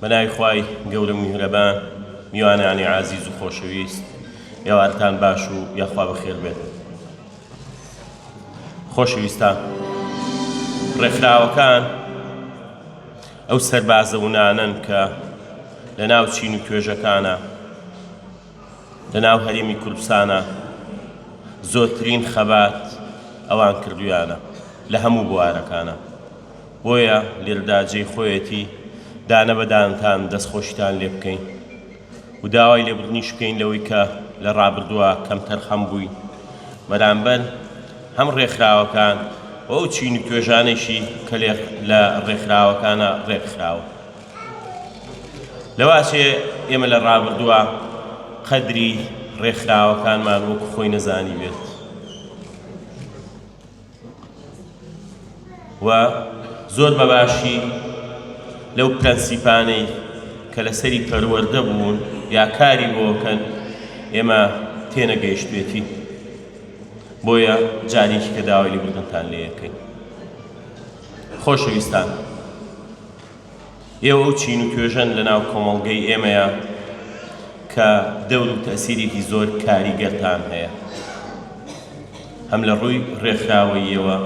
بەناوی خوای گەورە میهرەبان میوانانی عازیز و خۆشەویست ئێوارتان باش و یاخوا بەخێر بێت خۆشەویستان ڕێکخراوەکان ئەو سەربازە ونانەن کە لە ناو چین و توێژەکانە لە ناو هەرێمی کوردستانا زۆرترین خەبات ئەوان کردویانە لە هەموو بوارەکانا بۆیە لێرەدا جێی خۆیەتی دانە بەدانتان دەستخۆشیتان لێ بکەین و داوای لێبڕنیش بکەین لەوەی کە لە ڕابردووە کەمتەرخەم بووی بەرامبەر هەم ڕێکخراوەکان و ئەو چین و توێژانێکی کە لە ڕێکخراوەکانە ڕێکخراوە لەواشێ ئێمە لە ڕابردووە قەدری ڕێکخراوەکانمان وەک خۆی نەزانی بێت و زۆر بەباشی لەو پرەنسیپانەی کە لەسەری پەروەەردە بوون یا کاری بۆکەن ئێمە تێنەگەیشتێتی بۆیە جارێکی کە داوای لێبوردنتان لێەکەین خۆشەویستان. ئێوە ئەو چین و توێژەن لە ناو کۆمەڵگەی ئێمەیە کە دەور و تەسیرێکی زۆر کاریگەرتان هەیە هەم لە ڕووی ڕێکخراوەیەوە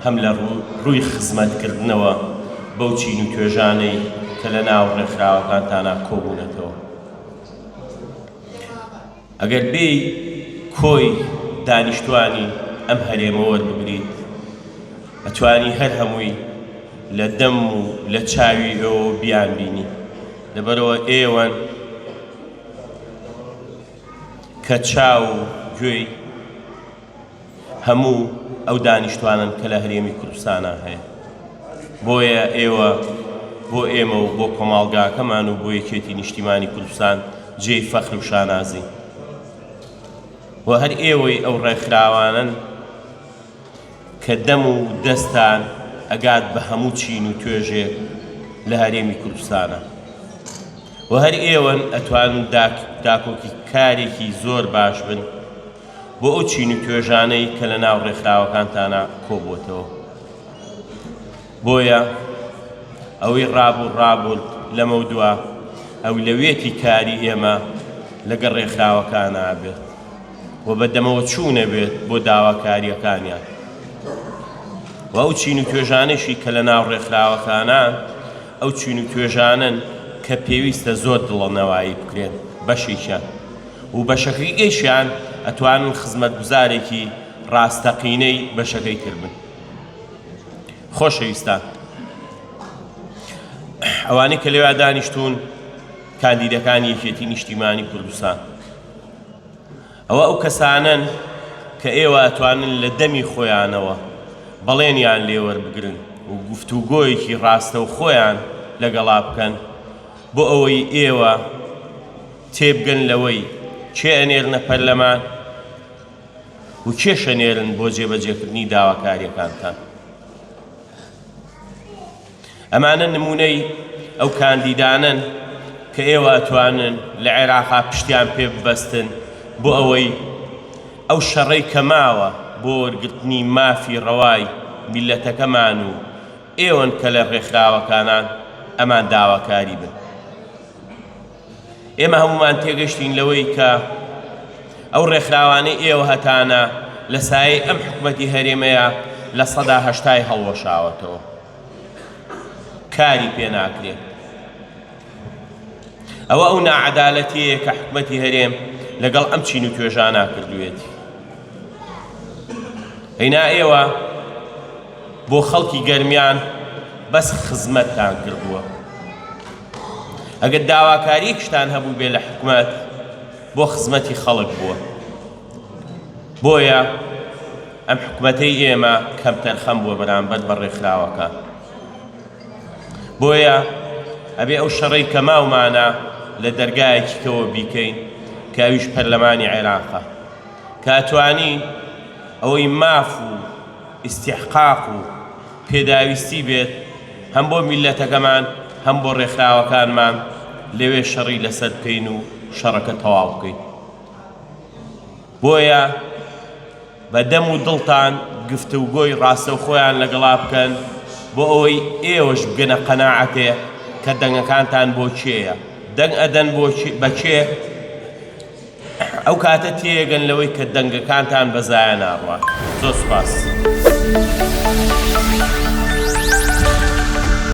هەم لە ڕووی خزمەتکردنەوە بەو چین و توێژانەی کە لە ناو ڕێکخراوەکانتانە کۆبوونەتەوە ئەگەر بێی کۆی دانیشتوانی ئەم هەرێمە وەربگریت ئەتوانی هەر هەمووی لە دەم و لە چاوی ئێوەوە بیان بینی لەبەرەوە ئێوەن کە چاو و گوێی هەموو ئەو دانیشتوانن کە لە هەرێمی کوردستانا هەیە بۆیە ئێوە بۆ ئێمە و بۆ کۆماڵگاکەمان و بۆ یەکێتی نیشتیمانی کوردستان جێی فەخر و شانازی و هەر ئێوەی ئەو ڕێکخراوانن کە دەم و دەستان ئەگات بە هەموو چین و توێژێک لە هەرێمی کوردستانە و هەر ئێوەن ئەتوان داکۆکی کارێکی زۆر باش بن بۆ ئەو چین و توێژانەی کە لە ناو ڕێکخراوەکانتانا کۆبووەتەوە. بۆیە ئەوەی ڕابوو ڕابوون لەمەودوا ئەولەویەتی کاری ئێمە لەگەڵ ڕێکخراوەکانە بێت و بەدەمەوە چوونە بێت بۆ داواکارییەکانیان و ئەو چین و توێژانێکی کە لە ناو ڕێکخراوەکانان ئەو چین و توێژانن کە پێویستە زۆر دڵەنەوایی بکرێن بەشێکیان و بەشەکەی گەیشیان ئەتوانن خزمەتگوزارێکی ڕاستەقینەی بەشەکەی تر بن خۆشەویستان ئەوانەی کە لەوێ دانیشتوون کاندیدەکانی یەکێتی نیشتیمانی کوردستان ئەوە ئەو کەسانن کە ئێوە ئەتوانن لە دەمی خۆیانەوە بەڵێنیان لێوەربگرن و گفتوگۆیەکی ڕاستە و خۆیان لەگەڵا بکەن بۆ ئەوەی ئێوە تێبگەن لەوەی کێ ئەنێرنە پەرلەمان و کێش ئەنێرن بۆ جێبەجێکردنی داواکاریەکانتان. ئەمانە نمونەی ئەو کاندیدانەن کە ئێوە ئەتوانن لە عێراقا پشتیان پێ ببەستن بۆ ئەوەی ئەو شەڕەی کە ماوە بۆ وەرگرتنی مافی ڕەوای میلەتەکەمان و ئێوەن کە لە ڕێکخراوەکانان ئەمان داواکاری بن. ئێمە هەموومان تێگەشتین لەوەی کە ئەو ڕێکخراوانەی ئێوە هەتانە لە سایەی ئەم حکومەتی هەرێمەیە لە سەدا هەشتای هەڵوەشاوەتەوە کاری پێ ناکرێت ئەوە ئەو ناعەدالەتەیە کە حکومەتی هەرێم لەگەڵ ئەم چین و توێژانە کردوێتی هەینا ئێوە بۆ خەڵکی گەرمیان بەس خزمەتتان کردووە ئەگەر داواکاریەکیشتان هەبووبێ لە حکومەت بۆ خزمەتی خەڵک بووە بۆیە ئەم حکومەتەی ئێمە کەم تەرخەم بووە بەرامبەر بە ڕێکخراوەکە بۆیە ئەبێ ئەو شەڕی کە ماومانە لە دەرگایەکی کەەوە بیکەین کاویش پەرلەمانی عێراقە کاتوانی ئەوەی ماف و ئیستیحقاق و پێداویستی بێت هەم بۆ میللەتەکەمان هەم بۆ ڕێکخراوەکانمان لەوێ شەڕی لەسەر بکەین و شەڕەکە تەواو بکەین بۆیە بە دەم و دڵتان گفتوگۆی ڕاستەوخۆیان لەگەڵا بکەن بۆ ئەوەی ئێوەش بگەنە قەناعەتێ کە دەنگەکانتان بۆ کێیە دەنگ ئەدەن بۆ بەکێ ئەو کاتە تێگەن لەوەی کە دەنگەکانتان بە زایە ناڕوات. زۆر سوپاس.